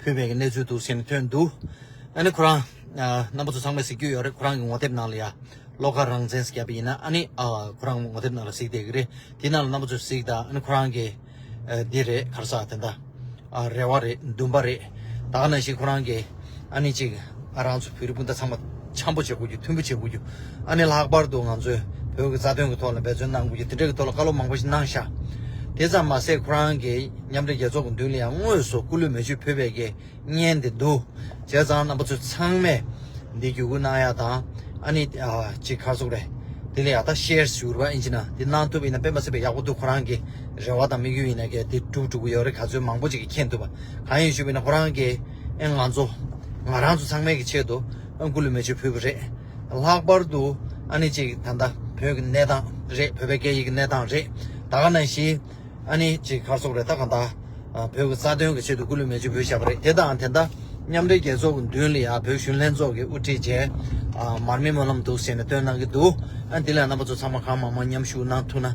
ཕུད་མེད་ཀྱི་གནས་ཚུལ་འདུག་ཟེར་ནས་ཐོན་འདུག་ཨ་ནི་ཁོ་རང། རྣམ་པ་ཚོ་ཚང་མས་གཟིགས་རྒྱུ་ཡོད་རེད་ཁོ་རང་གི་ངོ་དེབ་ནང་ལ་ཡ། བློ་དཀར་རང་བཙན་ཟེར་རྒྱབ་པ་ཡིན་ན་ཨ་ནི། ཁོ་རང་ངོ་དེབ་ནང་ལ་གཟིགས་བསྡད་ཀྱི་རེད་དེ་ནང་ལ་རྣམ་པ་ཚོས་གཟིགས་དང་ཨ་ནི་ཁོ་རང་གི། འདི་རེད་གར་ས་དེ་འདྲ། རེ་བ་རེད་འདུན་པ་རེད། ད་ག་ནང་བཞིན་ཁོ་རང་གི། ཨ་ནི་གཅིག། ཨ་རང་ཚོ་བོད་རིགས་སྤུན་ཟླ་ཚང་མ་འཆམ་པོ་བྱེད་དགོས་རྒྱུ་མཐུན་པོ་བྱེད་དགོས་རྒྱུ་ཨ་ནི་ལྷག་པར་དུ་ང་ཚོས་བོད་ཀྱི་རྩ་དོན་གྱི་ཐོག་ལ་འབད་བརྩོན་གནང་དགོས་རྒྱུ་དེ་འདྲ་གྱི་ཐོག་ལ་བཀའ་སློབ་མང་པོ་ཞིག་གནང་ཤག་དེ་ཙམ་མ་ཟད་ཁོ་རང་གི་མཉམ་འབྲེལ་རྒྱལ་ཚོགས་ཀྱི་མདུན་ལ་ཡང་དངོས་སུ་སྐུ་ལུས་མེ་མཆོད་ཕུལ་བའི་དགེ་བསྙེན་དེ་འདུ་བྱས་ཙང་རྣམ་པ་ཚོས་ཚང་མས་འདི་བརྒྱུད་སྐུར་གནང་ཡག་དང་ཨ་ནི་གཅིག་ཁར་ཟུག་རེ་དེ་ལ་ཡག་ད་ཤེར་ཞུ་རུ་བ་ཨིན་ཅི་ན་དེ་གནང་ཐུབ་ཡིན་ན་དཔེ་མ་སྲིད་པའི་ཡག་པོ་འདུག་ཁོ་རང་གི་རེ་བ་དང་དམིགས་ཡུལ་ཡིན་ན་གལ་ཏེ་འགྲུབ་འགྲུབ་ཀྱི་ཡོད་རེ་ག་ཚོད་མང་པོ་ཅིག་གིས་མཁྱེན་ཐུབ་པ་གང་ཡིན་ཞུ་བ་ཡིན་ན་ཁོ་རང་གི། ཨེ་ང་ཚོ། ང་རང་ཚོ་ཚང་མའི་གི་ཆེད་དུ་ཨ་འགུ་ལུ་མེ་ཆུ་ཕུལ་གི་རེད། ལྷག་པར་དུ་ཨ་ནི་ཅིག་ད་ལྟ་བོད་ཀྱི་གནས་སྟངས་རེད་བོད་པའི་སྐད་ཡིག་གི་གནས་སྟངས་རེད་ད་ག་ན་ཞི། ཨ་ནི་ཅིག་ཁར་སོག་རེད་ད་ག་ད་བོད་ཀྱི་རྩ་དོན་གི་ཆེད་དུ་འགུ་ལུ་མེ་ཆུ་ཕུལ་བཞག་པ་རེད་དེ་དང་དེ་ལྟ་མཉམ་འབྲེལ་རྒྱལ་ཚོགས་མདུན་ལ་ཡང་བོད་གཞུང་ལྷན་ཚོགས་ཀྱི་དབུ་ཁྲིད་རྗེ་མར་མེ་སྨོན་ལམ་འདུག་ཟེར་ནས་བཏོན་གནང་གི་འདུག་ཨ་འདི་ལ་རྣམ་པ་ཚོ་ཚང་མ་གང་མང་མང་མཉམ་ཞུགས་གནང་ཐུབ་ན།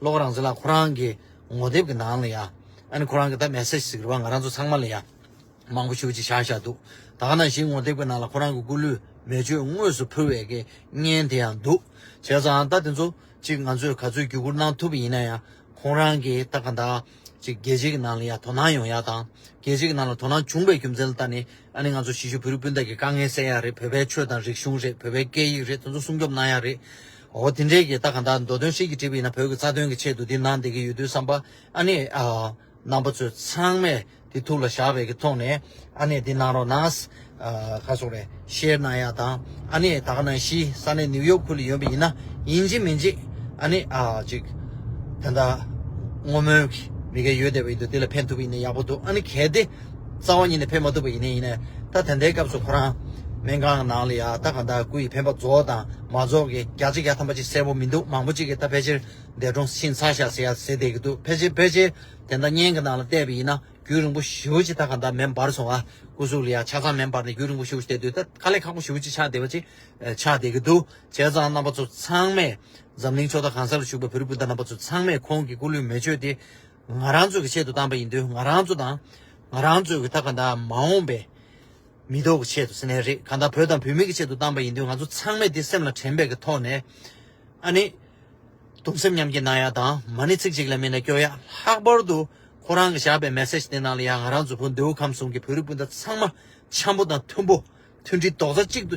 ལོག་རང་བཟི་ལ་ཁོ་རང་གི་ངོ་དེབ་ཀྱི་ནང་ལ་ཡང་ཨ་ནི་ཁོ་རང་གི་ད་མེ་སེར་ཟིག་རེ་བ་ང་རང་ཚོ་ཚང་མ་ལ་ཡང་མང་པོ་ཞུ་ཅིག་བཞག་བཞག་འདུག་ད་ག་ནང་བཞིན་ངོ་དེབ་ཀྱི་ནང་ལ་ཁོ་རང་གི་སྐུ་ལུས་མེ་མཆོད་དངོས་སུ་ཕུལ་བའི་དགེ་བསྙེན་དེ་ཡང་འདུག་བྱས་ཙང་ད་དེ་ཚོ་ཅིག་ང་ཚོས་ག་ཚོད་བརྒྱུད་བསྐུར་གནང་ཐུབ་པ་ཡིན་ན་ཡང་ཁོང་རང་གི་ད་ག་འདྲ་ཅིག་རྒྱལ་སྤྱི་ཀྱི་ནང་ལ་ཡང་དོ་སྣང་ཡོང་ཡག་དང་རྒྱལ་སྤྱི་ཀྱི་ནང་ལ་དོ་སྣང་བྱུང་པའི་རྒྱུ་མཚན་ལ་ད་ནི་ཨ་ནི་ང་ཚོ་གཞིས་བཞུགས་བོད་རིགས་སྤུན་ཟླ་ཀྱི་དཀའ་ངལ་སེལ་ཡག་རེད་བོད་པའི་ཆོས་དང་རིག་གཞུང་རེད་བོད་པའི་སྐད་ཡིག་རེད་དེ་ཚོ་སྲུང་སྐྱོབ་གནང་ཡག་རེད། འོ་དེ་འདྲའི་གི་ད་གང་ལྟར་མདོ་དོན་ཧྲིལ་གྱིས་བྲིས་པ་ཡིན་ན་བོད་ཀྱི་རྩ་དོན་གྱི་ཆེད་དུ་འདི་གནང་བསྡད་ཀྱི་ཡོད་དུས་བསམ་པ་ཨ་ནི་རྣམ་པ་ཚོས་ཚང་མས་དེ་ཐུགས་ལ་བཞག་པའི་གི་ཐོག་ནས་ཨ་ནི་འདི་གནང་རོགས་གནང། ཁ་སོགས་རེ་ཤེར་གནང་ཡག་དང་ཨ་ནི་ད་ག་ནང་གཞིས་ས་གནས་ནིའུ་ཡོག་ཁུལ་ལ་ཡོད་པ་ཡིན་ན་ཡིན་གཅིག་མིན་གཅིག་ཨ་ནི་ཅིག་དེ་ལྟར་བསྔོ་སྨོན་གི་མི་ག་ཡོད་བསྡད་པ་ཡིན་དུས་དེ་ལ་ཕན་ཐུབ་པ་ཡིན་ན་ཡག་པོ་འདུག་ཨ་ནི་གལ་ཏེ། རྩ་བ་ཉིད་ནས་ཕེབས་མ་ཐུབ་པ་ཡིན་ནི་ཡིན། ད་ཐེངས་འདའི་སྐབས་སུ་ཁོ་རང། སྨན་ཁང་ནང་ལ་ཡ་ད་ག་ད་སྐུ་ཡི་འཕེན་པ་རྫོགས་དང་མ་རྫོགས་ཀྱི་རྒྱ་ཆ་ཡ་ད་མ་ཅིག་གསལ་པོ་མི་འདུག་མང་པོ་ཅིག་གིས་ད་ཕལ་ཆེར་འདས་གྲོངས་ཕྱིན་ཚར་ཤག་ཟེར་ཡ་ཟེར་བསྡད་ཀྱི་འདུག་ཕལ་ཆེར་ཕལ་ཆེར་དེ་འདྲ་བརྙན་གྱི་ནང་ལ་བལྟས་པ་ཡིན་ན་རྒྱུན་རིང་པོ་བཞི་བ་ཅིག་ད་ག་ད་མེ་འབར་སོང་ཨ། སྐུ་གཟུགས་ལ་ཡ་ཆ་ཚང་མེ་འབར་ནས་རྒྱུན་རིང་པོ་བཞི་བ་ཞིག་བལྟས་དུས་ད་ག་ལས་ཁག་པོ་བཞི་བ་ཅིག་ཆགས་བསྡད་པ་ཅིག་ཆགས་བསྡད་ཀྱི་འདུག་བྱས་ཙང་རྣམ་པ་ཚོ་ཚང་མས་འཛམ་གླིང་ཕྱོགས་མཐའ་གང་ས་ལ་བཞུགས་པའི་བོད་རིགས་སྤུན་ཟླ་རྣམ་པ་ཚོ་ཚང་མས་ཁོང་གི་སྐུ་ལུས་མེ་མཆོད་དེ། ང་རང་ཚོ་གི་ཆེད་དུ་བཏང་པ་ཡིན་དུས་ང་རང་ཚོ་དང་ང་རང་ཚོ་གི་ད་ག་འདའ་མ་འོངས་པའི་མི་ཐོག་གི་ཆེད་དུ་སེ་ནའི་རེད་ག་འདའ་བོད་དང་བོད་མི་གི་ཆེད་དུ་བཏང་པ་ཡིན་དུས་ང་ཚོ་ཚང་མས་དེ་སེམས་ལ་དྲན་པའི་གི་ཐོག་ནས་ཨ་ནི་དུང་སེམས་མཉམ་སྐྱེ་གནང་ཡག་དང་མ་ནི་ཚིག་གཅིག་ལས་མི་ན་སྐྱོ་ཡག་ལྷག་པར་དུ་ཁོ་རང་གི་བཞག་པའི་མེ་སེ་ཇ་དེ་ནང་ལ་ཡང་ང་རང་ཚོ་བོད་མདོའུ་ཁམས་གསུམ་གི་བོད་རིགས་སྤུན་ཟླ་ཚང་མ་འཆམ་པོ་དང་མཐུན་པོ། མཐུན་སྒྲིལ་རྡོག་རྩ་གཅིག་ཏུ་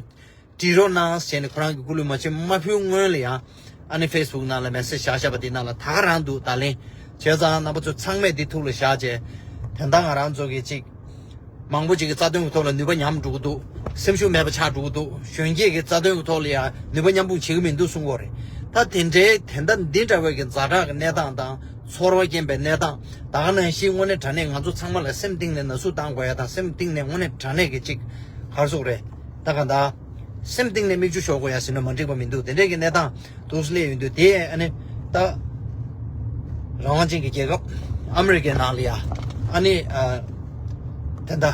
སྒྲིལ་རོགས་གནང་ཟེར་ནས་ཁོ་རང་གི་སྐུ་ལུས་མ་ཕྱི་མ་ཕུལ་སྔོན་ལ་ཡང་ཨ་ནེ་ཕེས་བུག་ནང་ལ་མེ་སྲེག་བཞག་བཞག་པ་དེ་ནང་ལ་ད་ག་རང་འདུག་བརྡ་ལན་བྱས་ཙང་རྣམ་པ་ཚོ་ཚང་མས་འདི་ཐུགས་ལ་བཞག་བྱས་དོན་དག་ང་རང་ཚོ་གི་ཅིག་མང་པོ་ཅིག་གི་རྩ་དོན་གི་ཐོག་ལ་ནུས་པ་ཉམས་འགྲོ་གི་འདུག་སེམས་ཤུགས་མེད་པ་ཆགས་འགྲོ་གི་འདུག་གཞོན་སྐྱེས་ཀྱི་རྩ་དོན་གི་ཐོག་ལ་ཡང་ནུས་པ་མཉམ་སྤུངས་བྱེད་ཀྱི་མི་འདུག་གསུང་འོ་རེད་ད་དེ་འདྲའི་དེ་ལྟ་འདི་འདྲ་བའི་གི་འཛའ་དྲག་གི་གནས་སྟངས་དང་ཚོར་བ་སྐྱེན་པའི་གནས་སྟངས་དག་ནང་བཞིན་དངོས་གནས་དྲ་གནས་ང་ཚོ་ཚང་མ་ལ་སེམས་གཏིང་ནས་ན་ཟུག་བཏང་དགོས་ཡ་དང་སེམས་གཏིང་ནས་དངོས་གནས་དྲ་གནས་ཀྱི་གཅིག་ཧར་ཟུག་རེད་ད་ག་འདའ། སེམས་གཏིང་ནས་མིག་ཆུ་ཤོར་དགོས་ཡ་ཟིན་ནོ་མ་འགྲིག་པ་མི་འདུག་དེ་འདྲས་ཀྱི་གནས་སྟངས་དུག་སླེ་ཡོད་འདུག་དེ་ཨ་ནི་ད། རང་དབང་ཅན་གྱི་རྒྱལ་ཁབ་ཨ་མི་རི་ཀའི་ནང་ལ་ཡ་ཨ་ནི་དེ་འདའ།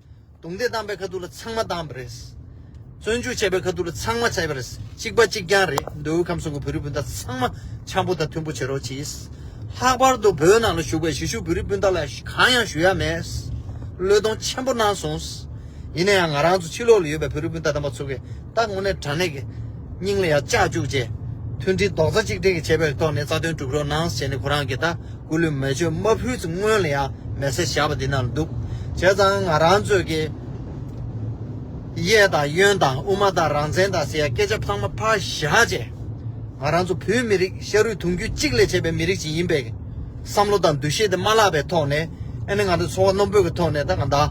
རྡུང་རྡེག་བཏང་པའི་ཁ་ཐུག་ལ་ཚང་མ་བཏང་བ་རེད། བཙོན་འཇུག་བྱས་པའི་ཁ་ཐུག་ལ་ཚང་མ་བྱས་པ་རེད། གཅིག་པ་གཅིག་རྐྱང་རེད། མདོ་དབུས་ཁམས་གསུམ་གྱི་བོད་རིགས་སྤུན་ཟླ་ཚང་མ་འཆམ་པོ་དང་མཐུན་པོ་བྱེད་རོགས་གྱིས། ལྷག་པར་དུ་བོད་ནང་ལ་བཞུགས་པའི་གཞིས་བཞུགས་བོད་རིགས་སྤུན་ཟླ་ལ་གང་ཡང་ཞུ་ཡ་མེད། བློས་གཏོང་ཆེན་པོ་གནང་སོང། ཡིན་ན་ཡང་ང་རང་ཚོ་ཕྱི་ལོགས་ལ་ཡོད་པའི་བོད་རིགས་སྤུན་ཟླ་དམ་པ་ཚོ་གིས་ད་དངོས་གནས་དྲང་གནས་ཀྱི་སྙིང་ལ་ཡང་བཅགས་བཅུག་རྗེས། མཐུན་སྒྲིལ་རྡོག་རྩ་གཅིག་སྒྲིལ་གྱི་བྱེད་པའི་ཐོག་ནས་རྩ་དོན་སྒྲུབ་རོགས་གནང་ཟེར་ནས་ཁོ་རང་གིས་ད། སྐུ་ལུས་མེ་མཆོད་མ་ཕུལ་ཚེ་སྔོན་ལ་ཡང་མེ་བསྲེག་བྱ་བ་འདི་ན་འདུག་བྱས་ཙང་ང་རང་ཚོས་ཀྱི། གཡས་དང་གཡོན་དང་དབུ་མ་དང་རང་བཙན་དང་ཟེར་ཡ་སྐད་ཆ་ཚང་མ་ཕར་བཞག་རྗེས། ང་རང་ཚོ་བོད་མི་རིགས་ཤ་རུས་དུང་རྒྱུད་གཅིག་ལས་བྱས་པའི་མི་རིགས་ཅིག་ཡིན་པས། བསམ་བློ་དང་འདུ་ཤེས་དེ་མ་བརླག་པའི་ཐོག་ནས། ཨ་ནི་ང་ཚོ་འཚོ་བ་རྣོན་པོས་ཀྱི་ཐོག་ནས་ད་ང་བདག་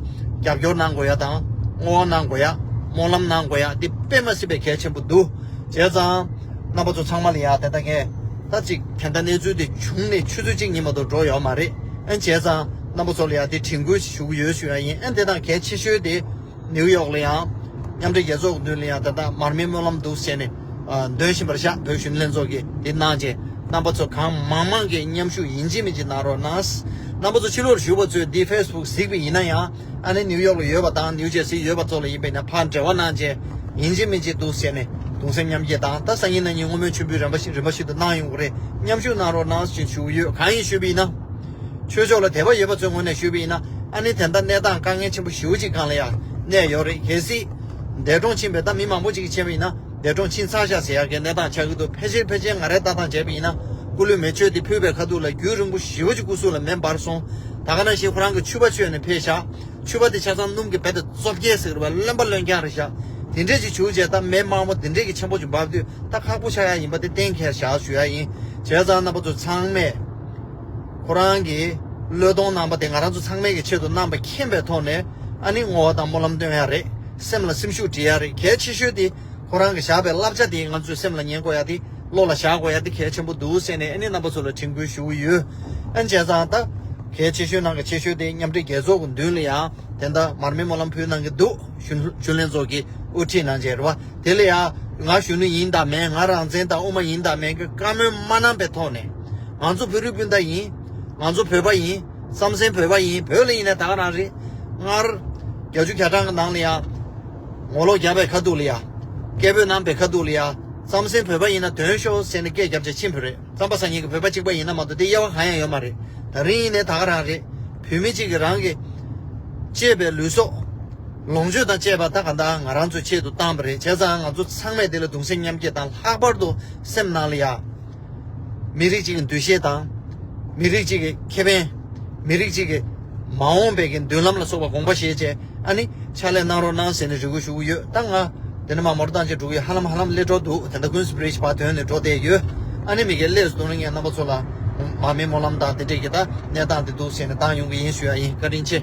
རྒྱབ་སྐྱོར་གནང་དགོས་ཡ་དང། བསྔོ་བ་གནང་དགོས་ཡ། སྨོན་ལམ་གནང་དགོས་ཡ་འདི་དཔེ་མ་སྲིད་པའི་གལ་ཆེན་པོ་འདུག་བྱས་ཙང། རྣམ་པ་ཚོ་ཚང་མ་ལ་ཡང་དེ་ལྟ་ངས་ད་ཅིག་དེ་འདྲ་གནས་ཚུལ་དེ་བྱུང་ནས་ཆུ་ཚོད་གཅིག་གཉིས་མ་གཏོགས་འགྲོ་ཡོད་མ་རེད་ཨེ་བྱས་ཙང་རྣམ་པ་ཚོ་ལ་ཡང་དེ་དྲན་སྐུལ་ཞིག་ཞུ་གི་ཡོད་ཞུ་ཡ་ཡིན་ཨེ་དེ་དང་གལ་ཆེ་ཤོས་དེ་ནིའུ་ཡོག་ལ་ཡང་མཉམ་འབྲེལ་རྒྱལ་ཚོགས་མདུན་ལ་ཡང་དེ་ལྟ་མར་མེའི་སྨོན་ལམ་འདུག་ཟེར་ནས་འདོན་བཞིན་པར་ཤག་བོད་གཞུང་ལྷན་ཚོགས་ཀྱིས་དེ་གནང་རྗེས་རྣམ་པ་ཚོ་གང་མང་མང་གིས་མཉམ་ཞུགས་ཡིན་གཅིག་མིན་གཅིག་གནང་རོགས་གནང། རྣམ་པ་ཚོ་ཕྱི་ལོགས་ཞུགས་པ་ཚོས་འདི་ཧྥེ་སི་བུག་གཟིགས་པས་ཡིན་ན་ཡང། ཨ་ནི་ནིའུ་ཡོག་ལ་ཡོད་པ་དང་ནིའུ་ཇེར་སིའི་ཡོད་པ་ཚོ་ལ་ཡིན་པས་ན་ཕར་འབྲེལ་བ་གནང་རྗེས་ཡིན་གཅིག་མིན་གཅིག་འདུག་ཟེར་ནས་གདུང་སེམས་མཉམ་སྐྱེད་དང་ད་སང་ཉིན་ན་ཉིན་སྔོན་མོའི་མཆོད་འབུལ་རན་པ་ཞིག་རིམ་པ་ཞིག་ཏུ་གནང་ཡོང་གི་རེད་མཉམ་ཞུགས་གནང་རོགས་གནང་ཞེས་ཞུ་གི་ཡོད་གང་ཡིན་ཤོད་པའི་ཡིན་ན། ཆོས་ཕྱོགས་ལ་དད་པ་ཡོད་པ་ཚོའི་ངོས་ནས་ཞུས་པའི་ཡིན་ན་ཨ་ནི་དེ་འདྲ་གནས་སྟངས་དཀའ་ངལ་ཆེན་པོ་ཞེ་བོ་ཅིག་གང་ལ་ཡང་གནས་ཡོད་རེད་གལ་སྲིད། འདས་གྲོངས་ཕྱིན་པའི་ད་མི་མང་པོ་ཅིག་གི་མཆན་བ་ཡིན་ན། འདས་གྲོངས་ཕྱིན་ཚར་ཤ་ཟེར་ཡག་གི་གནས་སྟངས་ཆགས་ཀྱི་འདུག་ཕལ་ཆེར་ཕལ་ཆེར་ང་རེ་ལྟ་སྟངས་བྱས་པ་ཡིན་ན་སྐུ་ལུས་མེ་མཆོད་དེ་ཕུལ་བའི་ཁ་ཐུག་ལ་རྒྱུན་རིང་པོ་བཞི་བོ་ཅིག་སྐུ་གཟུགས་ལ་མེ་འབར་སོང་ད་ག་ནང་བཞིན་ཁོ་རང་གི་ཆུ་བ་མཆོད་ནས་ཕེབས་ཤག་ཆུ་བ་དེ་ཆ་ཚང་སྣུམ་གྱི་བད་དེ་བཙོ་བསྐྱལ་ཟིག་རེད་བ་རློན་པ་རློན་རྐྱང་རེད་ཤག་དེ་འདྲས་ཅིག་བྱུགས་བྱས་ད་མེ་དམར་མོ་དེ་འདྲས་ཀྱི་ཆེན་པོ་ཅིག་འབབ་དུས་ད་ཁག་པོ་ཆགས་ཡག་ཡིན་པ་དེ་གཏན་འཁེལ་ཞག་ཞུ་ཡག་ཡིན་བྱས་ཙང་རྣམ་པ་ཚོ་ཚང་མས་ཁོ་རང་གི་བློས་གཏོང་གནང་པ་དེ་ང་རང་ཚོ་ཚང་མས་ཀྱི་ཆེད་དུ་རྣམ་པ་མཁྱེན་པའི་ཐོག་ནས་ཨ་ནི་བསྔོ་བ་དང་སྨོན་ལམ་སྟོན་ཡག་རེད། སེམས་ལ་སེམས་ཤུགས་འབྲི་ཡག་རེད་གལ་ཆེ་ཤོས་དེ་ཁོ་རང་གི་བཞག་པའི་བསླབ་བྱ་དེ་ང་ཚོས་སེམས་ལ་ཉན་དགོས་ཡག་དེ་བློ་ལ་བཞག་དགོས་ཡག་དེ་གལ་ཆེན་པོ་འདུག་ཟེར་ནས་ཨ་ནེ་རྣམ་པ་ཚོ་ལ་དྲིན་སྐུལ་ཞུ་གི་ཡོད། ཨན་ཇེ་ཚང་ད། གལ་ཆེ་ཤོས་ནང་གི་ཆེ་ཤོས་དེ་མཉམ་འབྲེལ་རྒྱལ་ཚོགས་ཀྱི་མདུན་ལ་ཡང་དེ་ལྟ་མར་མེ་མོ་ལམ་ཕུལ་གནང་གི་འདུག་གཞོན་ལྷན་ཚོགས་ཀྱི་དབུ་ཁྲིད་གནང་བྱས་རེད་བ། དེ་ལ་ཡང། ང་གཞོན་ནུ་ཡིན་དང་མེད་ང་རང་བཙན་དང་དབུ་མ་ཡིན་དང་མེད་ཀྱི་བཀའ་མོལ་མ་གནང་པའི་ཐོག་ནས། ང་ཚོ་བོད་རིགས་སྤུན་ཟླ་ཡིན། ང་ཚོ་བོད་པ་ཡིན། རྩམ་ཟན་བོད་པ་ཡིན་བོད་ལ་ཡིན་ན་ད་ག་རང་རེད། སྔར། རྒྱ་ཇུ་གྱ་གྲངས་ཀྱི་ནང་ལ་ཡང། ངོ་ལོག་རྒྱ་བའི་ཁ་ཐུག་ལ་ཡང། སྐད་བོད་ནང་པའི་ཁ་ཐུག་ལ་ཡང། རྩམ་ཟན་བོད་པ་ཡིན་ན་དོན་ཤོར་ཟེར་ནས་སྐད་རྒྱབ་བྱ་ཕྱིན་བུ་རེད་རྩམ་པ་ཟ་ཉེན་གྱི་བོད་པ་གཅིག་པ་ཡིན་ན་མ་གཏོགས་དེ་དབྱེ་བ་གང་ཡང་ཡོད་མ་རེད། ད་རིང་ཡིན་ནས་ད་ག་རང་རེད། བོད་མི་གཅིག་གི་རང་གི། གཅེས་པའི་ལུས་སྲོག། ལོངས་སྤྱོད་དང་བཅས་པ་ད་ག་འདའ་ང་རང་ཚོའི་ཆེད་དུ་བཏང་བ་རེད་བྱས་ཙང་ང་ཚོ་ཚང་མས་དེ་ལ་གདུང་སེམས་མཉམ་སྐྱེད་དང་ལྷག་པར་དུ་སེམས་ནང་ལ་ཡ། མི་རིགས་གཅིག་གི་འདུ་ཤེས་དང། མི་རིགས་གཅིག་གི་ཁེ་ཕན། མི་རིགས་གཅིག་གི་མ་འོངས་པའི་གི་མདུན་ལམ་ལ་སོགས་པ་དགོངས་པ་བཞེས་བཅས་ཨ་ནི་ཕྱག་ལས་གནང་རོགས་གནང་ཟེར་ནས་རེ་སྐུལ་ཞུ་གི་ཡོད་ད་ང་འདི་ནས་མ་མོར་བཏང་རྗེས་འགྲོ་གི་ཡོད་ཧ་ལམ་ཧ་ལམ་སླེ་འགྲོ་འདུག་དེ་ལྟ་ཀུན་སྤྲེའུ་ཞི་བ་དོན་ནི་འགྲོ་བསྡད་ཡོད་ཨ་ནི་མི་ཁའི་སླེ་ཟུར་ངའི་རྣམ་པ་ཚོ་ལ་མ་མེ་མོ་ལམ་དང་དེ་འདྲས་ཀྱི་ད་གནས་སྟངས་དེ་འདུག་ཟེར་ནས་བཏང་ཡོང་གི་ཡིན་ཞུ་ཡ་ཡིན་བཀའ་དྲིན་ཆེ།